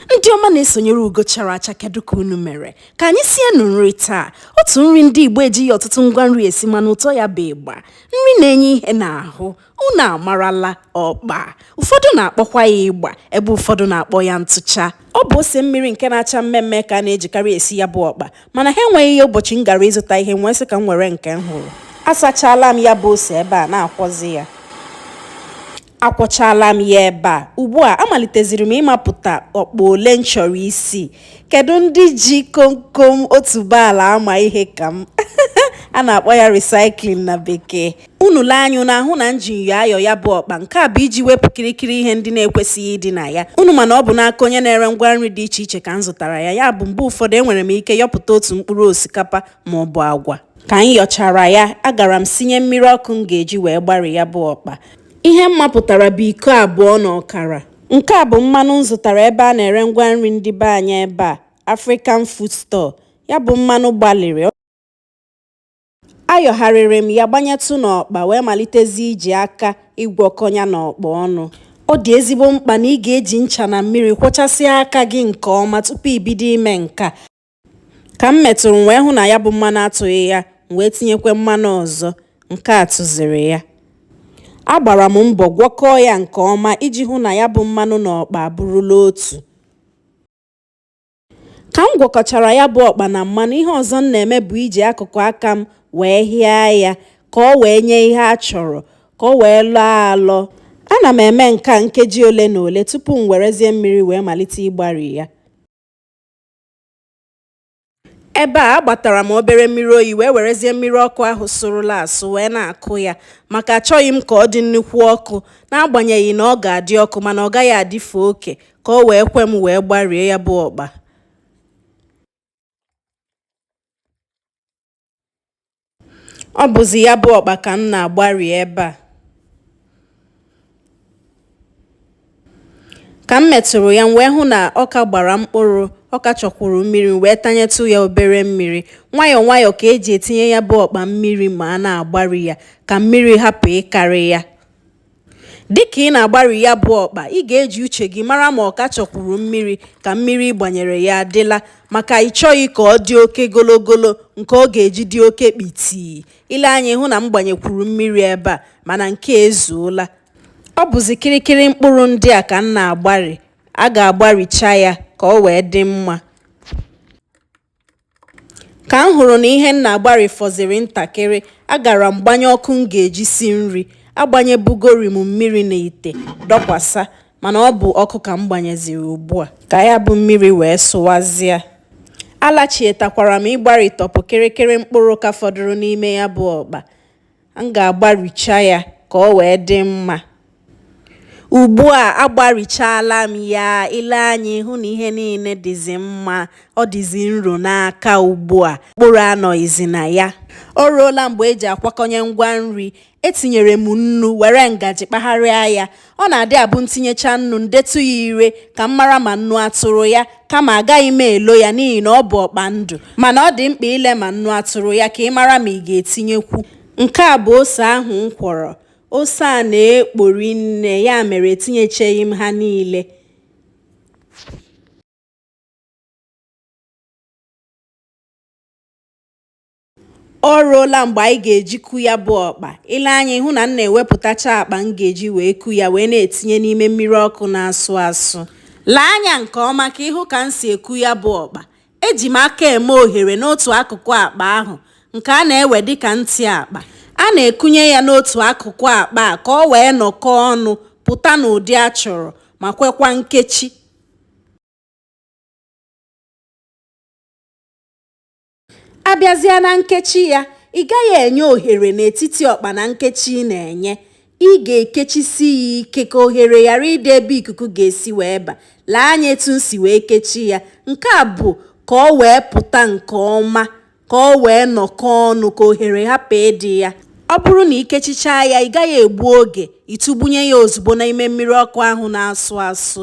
ndị ọma na-esonyere ugo chara acha kedu ka unu mere ka anyị sienụ nri taa otu nri ndị igbo ejighị ọtụtụ ngwa nri esi mana ụtọ ya bụ ịgba nri na-enye ihe n'ahụ unu amarala ọkpa ụfọdụ na-akpọkwa ya ịgba ebe ụfọdụ na-akpọ ya ntụcha ọ bụ ose mmiri nke na-acha mmee mmee ka a na-ejikarị esi ya bụ ọkpa mana ha enweghị ya ụbọchị m gara ịzụta ihe m wee sị ka m were nke m hụrụ asachala m ya bụ ose ebe a na-akwọzi ya akwọchaala m ya ebe a ugbu a amaliteziri m ịmapụta ọkpa ole m chọrọ isi kedu ndị ji komkom otuboala ama ihe ka m a na-akpọ ya recycling na bekee unu lee anya unu ahụ na m ji nyọ ayọ ya bụ ọkpa nke a bụ iji wepụ kirikiri ihe ndị na-ekwesịghị ịdị na ya unu ma na ọ bụ n'aka onye na-ere ngwa nri dị iche iche ka m zụtara ya ya bụ mgbe ụfọdụ enwere m ike yọpụta otu mkpụrụ osikapa ma ọ bụ agwa ka m yọchara ya agara m sinye mmiri ọkụ m ga-eji wee gbari ya bụ ọkpa Ihe m mapụtara bụ iko abụọ na ọkara. Nke a bụ mmanụ m zụtara ebe a na-ere ngwa nri ndị be anyị ebe a, African Food Store. Ya bụ mmanụ gbalịrị. Ayọgharịrị m ya gbanyetụ n'ọkpa wee malitezie iji aka ịgwọkọ ya na ọkpa ọnụ. Ọ dị ezigbo mkpa na ị ga-eji ncha na mmiri kwọchasịa aka gị nke ọma tupu i bido ime nke a. ka m metụrụ m wee hụ na ya bụ mmanụ atụghị ya m wee tinyekwa mmanụ ọzọ nke a tụziri ya agbara m mbọ gwọkọọ ya nke ọma iji hụ na ya bụ mmanụ na ọkpa abụrụla otu ka m gwọkọchara ya bụ ọkpa na mmanụ ihe ọzọ m na-eme bụ iji akụkụ aka m wee hịa ya ka ọ wee nye ihe a chọrọ ka ọ wee lọọ alọ ana m eme nke a nkeji ole na ole tupu m werezie mmiri wee malite ịgbari ya ebe a agbatara m obere mmiri oyi wee werezie mmiri ọkụ ahụ sụrụla asụ wee na-akụ ya maka achọghị m ka ọ dị nnukwu ọkụ n'agbanyeghị na ọ ga-adị ọkụ mana ọ gaghị adịfe oke ka o wee kwe m wee gbarie ya bụ ọkpa Ọ bụzi ya bụ ọkpa ka m na-agbari ebe a. Ka m metụrụ ya, m wee hụ na ọ ka gbara mkpụrụ, ọ ka chọkwuru mmiri, m wee tanyetụ ya obere mmiri. Nwayọọ nwayọọ ka e ji etinye ya bụ ọkpa mmiri ma a na-agbari ya ka mmiri hapụ ịkarị ya. Dịka ị na-agbari ya bụ ọkpa, ị ga-eji uche gị mara ma ọ ka chọkwuru mmiri ka mmiri ị gbanyere ya adịla maka ị chọghị ka ọ dị oke gologolo nke ọ ga-eji dị oke kpitii. I lee anya ị hụ na m gbanyekwuru mmiri ebe a mana nke a ezuola. Ọ bụzi kịrịkịrị mkpụrụ ndị a ka m na-agbari. A ga-agbaricha ya ka o wee dị mma. Ka m hụrụ na ihe m na-agbari fọziri ntakịrị, agara m gbanye ọkụ m ga-eji si nri. Agbanyebugori m mmiri n'ite dọkwasa mana ọ bụ ọkụ ka m gbanyeziri ugbu a ka ya bụ mmiri wee sụwazịa. Alachietakwara m ịgbari tọpụ kịrịkịrị mkpụrụ ka fọdụrụ n'ime ya bụ ọkpa. M ga-agbaricha ya ka o wee dị mma. Ugbu a agbarichaala m ya, i lee anya ị hụ na ihe niile dịzi mma, ọ dịzi nro n'aka ugbu a, mkpụrụ anọghịzi na ya. O ruola mgbe e ji akwakọnye ngwa nri. Etinyere m nnu were ngaji kpagharịa ya. Ọ na-adị abụ m tinyecha nnu m detụ ya ire ka m mara ma nnu atụrụ ya kama agaghị m elo ya n'ihi na ọ bụ ọkpa ndụ mana ọ dị mkpa ile ma nnu atụrụ ya ka ị mara ma ị ga-etinyekwu. Nke a bụ ose ahụ m kwọrọ. Ose a na-ekpo rinne ya mere etinyecheghị m ha niile. O ruola mgbe anyị ga-eji ku ya bụ ọkpa. I lee anya ị hụ na m na-ewepụtacha akpa m ga-eji wee ku ya wee na-etinye n'ime mmiri ọkụ na-asụ asụ. Lee anya nke ọma ka ị hụ ka m si eku ya bụ ọkpa. Eji m aka eme ohere n'otu akụkụ akpa ahụ nke a na-ewe dị ka ntị akpa. A na-ekunye ya n'otu akụkụ akpa a ka o wee nọkọọ ọnụ pụta n'ụdị a chọrọ ma kwekwa nkechi. A bịazịa na nkechi ya, ị gaghị enye ohere n'etiti ọkpa na nkechi ị na-enye. Ị ga-ekechisi ya ike ka ohere ghara ịdị ebe ikuku ga-esi wee ba. Lee anya etu m si wee kechie ya. Nke a bụ ka ọ wee pụta nke ọma, ka ọ wee nọkọọ ọnụ, ka ohere hapụ ịdị ya. Ọ bụrụ na i kechichaa ya, ị gaghị egbu oge, ị tụgbunye ya ozugbo n'ime mmiri ọkụ ahụ na-asụ asụ.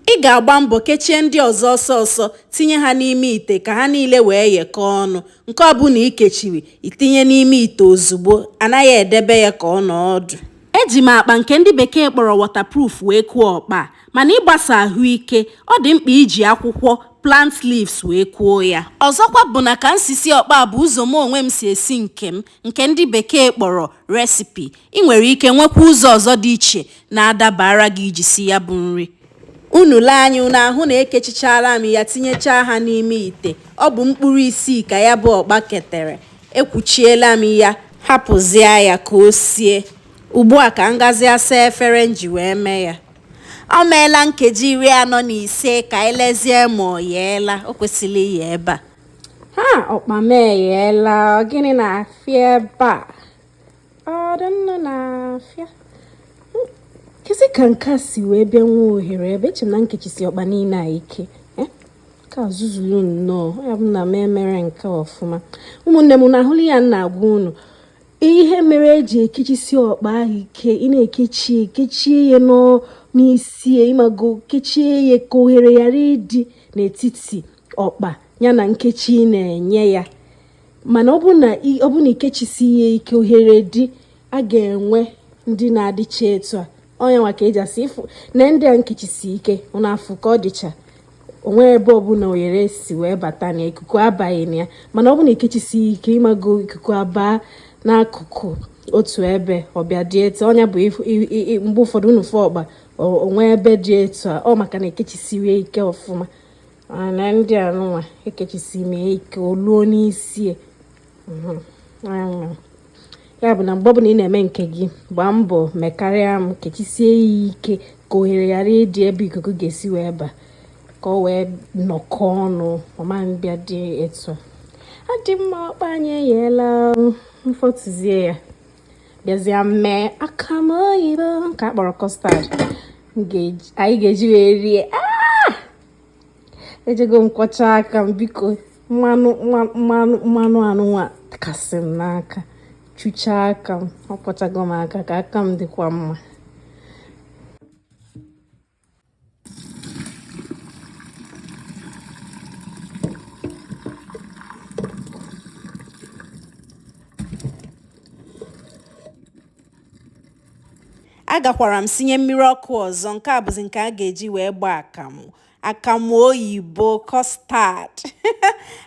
Ị ga-agba mbọ kechie ndị ọzọ ọsọ ọsọ tinye ha n'ime ite ka ha niile wee yekọọ ọnụ. Nke ọbụla i kechiri, i tinye n'ime ite ozugbo, a naghị edebe ya ka ọ nọọ ọdụ. Eji m akpa nke ndị bekee kpọrọ waterproof wee kuo ọkpa a, mana ị gbasa ahụ ike, ọ dị mkpa iji akwụkwọ, plant leaves, wee kuo ya. Ọzọkwa bụ na ka m si sie ọkpa a bụ ụzọ mụ onwe m si esi nke m, nke ndị bekee kpọrọ recipe. I nwere ike nwekwa ụzọ ọzọ dị iche na-adabaara gị iji si ya bụ nri. Unu lee anya unu ahụ na ekechichaala m ya tinyechaa ha n'ime ite. Ọ bụ mkpụrụ isii ka ya bụ ọkpa ketere. Ekwuchiela m ya hapụzịa ya ka o sie. Ugbu a ka m gazịa saa efere m ji wee mee ya. O meela nkeji iri anọ na ise ka e lezie ma o yeela. O kwesịla iye ebe a. Ha! Ọkpa m eyeela. Ọ gịnị na-afịa ebe a? ọ dị nnọọ na-afịa kezi ka nke a si wee bịa nwee ohere ebe eche m na m kechisi ọkpa niile a ike ka zuzuru nnọọ ya bụ na m emere nke ọfụma ụmụnne m na-ahụli ya na-agwa unu ihe mere eji ekechisi ọkpa ahụ ike ị na-ekechie ya n'isi ịmago kechie ya ka ohere ghara ịdị n'etiti ọkpa ya na nkechi na-enye ya mana ọ bụ na ọ bụ na ikechisighị ike ohere dị a ga-enwe ndị na-adịcha etu a ọ ya nwa ka eji asị ịfụ na ndị a m kechisi ike ụnụ afụ ka ọ dịcha onwe ebe ọbụla ohere si wee bata na ikuku abaghị na ya mana ọ bụ na ikechisi ike ịmago ikuku abaa n'akụkụ otu ebe ọ bịa dị etu a ya bụ mgbe ụfọdụ unu fụ ọkpa o nwee ebe dị etu a ọ maka na ekechisighị ike ọfụma na ndị anụnwa ekechisi m ike oluo n'isi e. mhm. ya bụ na mgbe ọbụla ị na-eme nke gị gbaa mbọ mekarịa m kechisie ya ike ka ohere ghara ịdị ebe ikuku ga-esi wee ba ka ọ wee nọkọ ọnụ ọ ma bịa dị etu a dị mma ọkpa anyị eyeela m fọtụzie ya bịazie mee akamụ oyibo nke a kpọrọ custard anyị ga-eji wee rie ah! ejego m kwọcha aka m biko mmanụ mmanụ mmanụ anụnwa kasị m n'aka chuchaa aka m akwọchago m aka ka aka m dịkwa mma agakwara m sinye mmiri ọkụ ọzọ nke a bụzi nke a ga-eji wee gbaa akamụ akamụ oyibo custard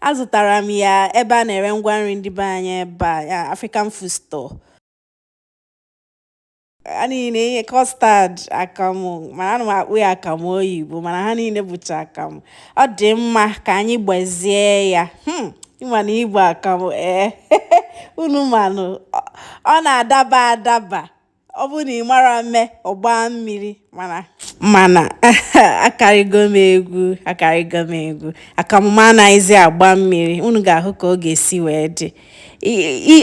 azụtara m ya ebe a na-ere ngwa nri ndị be anyị ebe a African food store a na-ere ihe custard akamụ mana ana m akpọ ya akamụ oyibo mana ha niile bụcha akamụ ọ dị mma ka anyị gbazie ya hmm, ịma na ịgba akamụ ee eh, unu manụ ọ na-adaba adaba ọ bụrụ na ị marọ eme ọ gbaa mmiri mana mana akarịgo m egwu akarịgo m egwu akamụ m anaghịzi agba mmiri unu ga-ahụ ka ọ ga-esi wee dị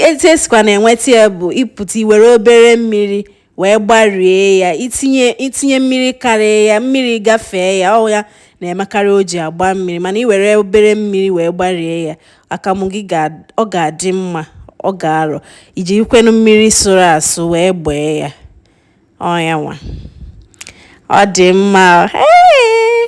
etu esikwanụ enweta ya bụ ịpụta iwere obere mmiri wee gbarie ya itinye itinye mmiri karịa ya mmiri gafee ya ọ ya na-emekarị o ji agba mmiri mana iwere obere mmiri wee gbarie ya akamụ gị ọ ga-adị mma ọ ga-arọ ijikwanụ mmiri sụrụ asụ wee gbaa ya ọ ya nwa ọ dị mma ee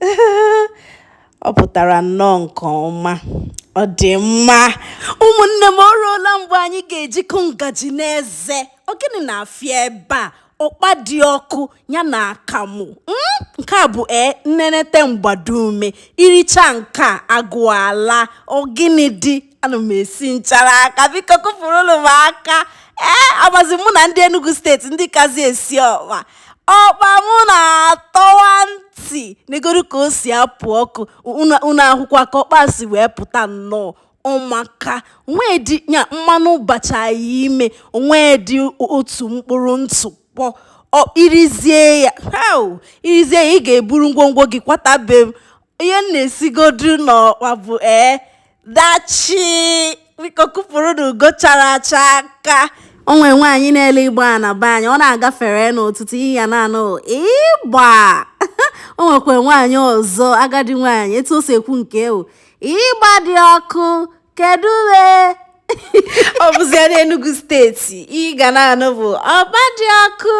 ọ pụtara nnọọ nke ọma ọ dị mma ụmụnne m o ruola mgbe anyị ga-eji kụọ ngaji n'eze ọ gịnị na-afịa ebe a ọkpa dị ọkụ ya na akamụ hmm? nke a bụ ee nnenete mgbado ume i richa nke a agụụ alaa ọ gịnị dị ana m esi nchara aka biko kụpụrụnụ m aka ee amazi mụ na ndị Enugu steeti ndị kazi esi ọkpa ọkpa mụ na-atọwa ntị negodu ka o si apụ ọkụ unu ahụkwa ka ọkpa si wee pụta nnọọ ọ maka nwedị ya mmanụ bachaa ya ime o nwedị otu mkpụrụ ntụkpọ i rizie ya i rizie ya ị ga-eburu ngwongwo gị kwata be m ihe m na-esigodu n'ọkwa bụ ee dachi biko kụpụrụnụ ugo chara acha aka o nwe nwaanyị na-ele ịgba na be anyị ọ na-agafere n'ụtụtụ ihe ị ya na-anụ ịgba o nwekwa nwaanyị ọzọ agadi nwaanyị etu o si ekwu nke ya ịgba dị ọkụ kedu uwe ọ bụzia n'Enugu steeti ihe ị ga na-anụ bụ ọkpa dị ọkụ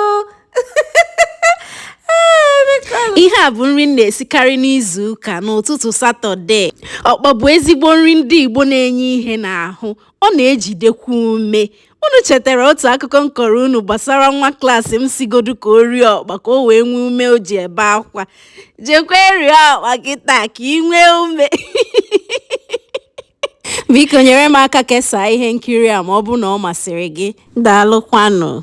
ihe a bụ nri m na-esikarị n'izu ụka n'ụtụtụ satọde ọkpa bụ ezigbo nri ndị igbo na-enye ihe n'ahụ ọ na-ejidekwa ume unu chetara otu akụkọ m kọrọ unu gbasara nwa klaasị m sịgodu ka o rie ọkpa ka o wee nwee ume o ji ebe akwa jekwa rie ọkpa kịta ka i nwee ume biko nyere m aka kesaa ihe nkiri a ma ọ bụrụ na ọ masịrị gị daalụkwanụ